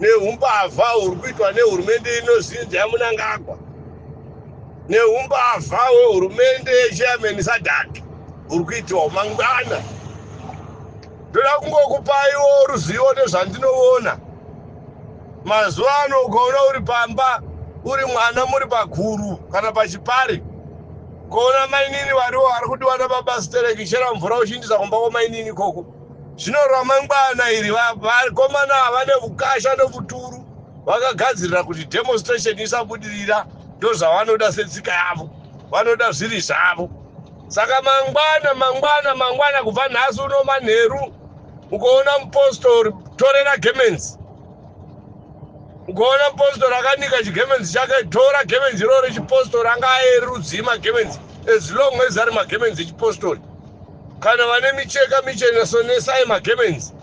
nehumbavha huri kuitwa nehurumende inozinzi yamunangagwa nehumbavha hwehurumende yechairman sadhaki huri kuitwa mangwana ndoda kungokupaiwo ruzivo nezvandinoona mazuva ano ukaona uri pamba uri mwana muri paguru kana pachipari ukaona mainini variwo vari kudiwa nababa stereki chera mvura uchiindisa kumba kwamainini ikoko Zvino ramangwana iri vakomana va, vane vukasha nokuturu vakagadzirira kuti demonstration isabudirira ndozvavanoda setsika yavo vanoda zviri zvavo saka mangwana mangwana mangwana kubva nhasi uno manheru ukaona mupostori torera gemenzi ukaona mupostori akanika chigemenzi chake tora gemenzi iroro rechipostori anga aerudzii magemenzi as long as ari magemenzi echipostori Kana vane micheka michena sonesai magemenzi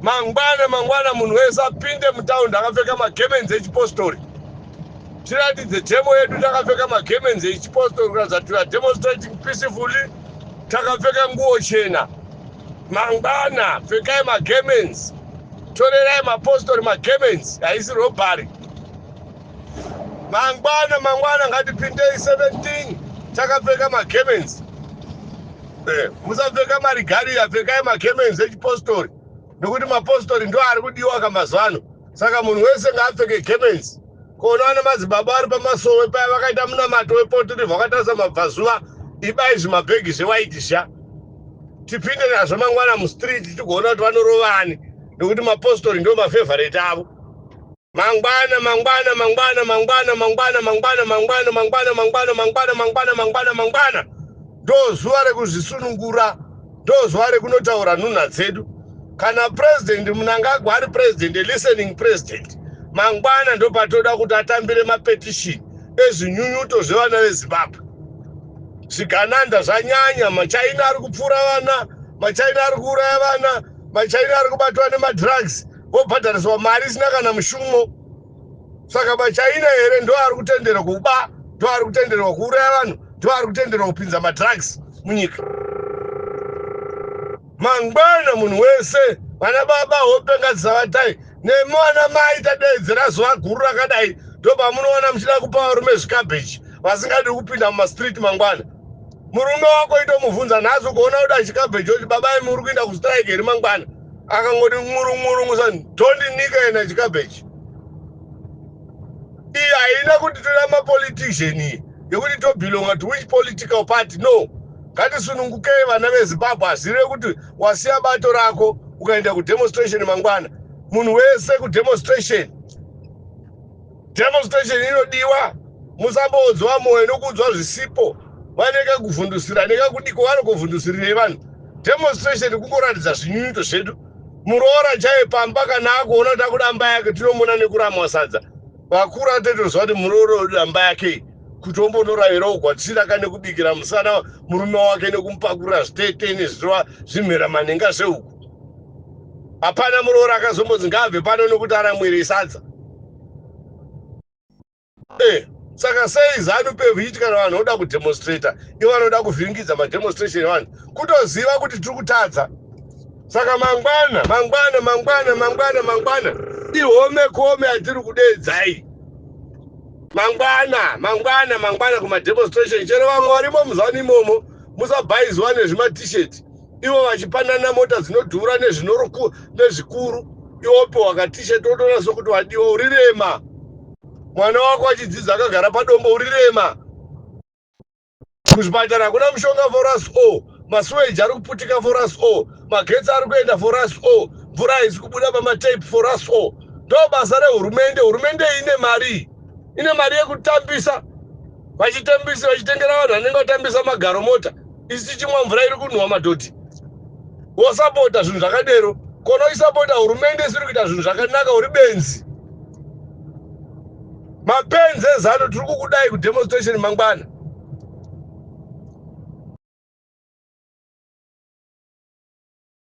mangwana mangwana munhu wese apinde mutaundi akapfeka magemenzi echipostori tiratidze demo yedu takapfeka magemenzi echipostori kuratidza kuti weare demonstrating peacefully takapfeka nguo chena mangwana pfekai magemenzi torerai mapostori magemenzi haisi robhari mangwana mangwana ngatipindei 17 takapfeka magemenzi eh, musapfeka marigariya pfekai magemenzi echipostori nokuti mapostori ndo ari kudiwa kamazuva ano saka munhu wese ngaapfeke gemenzi koona ana madzibaba ari pamasowe paya vakaita munamato wepotiri vakatarisa mabvazuva ibai zvimabhegi zvewaiti sha tipinde nazvo mangwana mustreet tigoona kuti vanorovani nekuti mapostori ndo mafevorate avo Mangwana mangwana mangwana mangwana mangwana mangwana mangwana mangwana mangwana mangwana mangwana mangwana mangwana ndozuva rekuzvisunungura ndozuva rekunotaura nhunha dzedu kana president munangagwa ari president a listening president mangwana ndopatoda kuti atambire mapetition ezvinyunyuto zvevana vezimbabwe zvigananda zvanyanya machaina ari kupfuura vana machaina ari kuuraya vana machaina ari kubatwa nemadrugs vobhadhariswa mari isina kana mushumo saka machina here ndo ari kutendera kuba ndo ari kutenderwa kuuraya vanhu ndo ari kutenderwa kupinza madrugs munyika mangwana munhu wese vana baba hope ngadzisavatai nemi vana mai tadaidzira zuva guru rakadai ndo pamunoona muchida kupa varume zvikabeji vasingadi kupinda mumastreet mangwana murume wako itomubvunza nhasi ukaona kuti achikabeji oti baba imi uri kuinda kustrike here mangwana akangoti ngurungurungu sa tondinika yena chikabechi iyi haina kuti toda mapolitician iyi yekuti tobelonga to which political party no ngatisunungukei vana vezimbabwe hazive kuti wasiya bato rako ukaenda kudemonstration mangwana munhu wese kudemonstration Demonstration inodiwa musamboodzwa moyo nokuudzwa zvisipo vane kakuvhundusira nekakudiko vanokovhundusirirei vanhu demonstration kungoratidza zvinyunyuto zvedu muroora chaiye pamba kana akuona kuti akuda mba yake tinomona nekuramwa sadza vakuru atoitoziva kuti muroora wedu damba yakei kuti ombonoravirawo kwatisina kane kubikira musana murume wake nekumupakurira zvitete nezvirova zvimhera manhenga zvehuku hapana muroora akazombonzi ngaabve pano nokuti aramwirei sadza eh, saka sei zanu pev ichiti kana vanhu voda kudemonstrata ivo vanoda kuvhiringidza mademonstration evanhu kutoziva kuti tiri kutadza saka mangwana mangwana mangwana mangwana mangwana ihome kome atiri kudeedzai mangwana mangwana mangwana kumademonstration chero vamwe varimo muzanu imomo musabhaiziwa nezvimatishet ivo vachipanana mota dzinodhura nezvikuru iwo pe wakatishe totoona sokuti wadiwa uri rema mwana wako achidzidza akagara padombo uri rema kuzvipatara hakuna mushonga for us all masuweji ari kuputika for us all magetsi ari kuenda for us all mvura haisi kubuda pamatape for us all ndo basa rehurumende hurumende ine mari ine mari yekutambisa Vachitambisa vachitengera vanhu vanenge vatambisa magaro mota isu tichimwa mvura iri kunhuwa madhodhi wosapota zvinhu zvakadero kona uchisapota hurumende isiri kuita zvinhu zvakanaka uri benzi mapenzi ezano tiri kukudai kudemonstration mangwana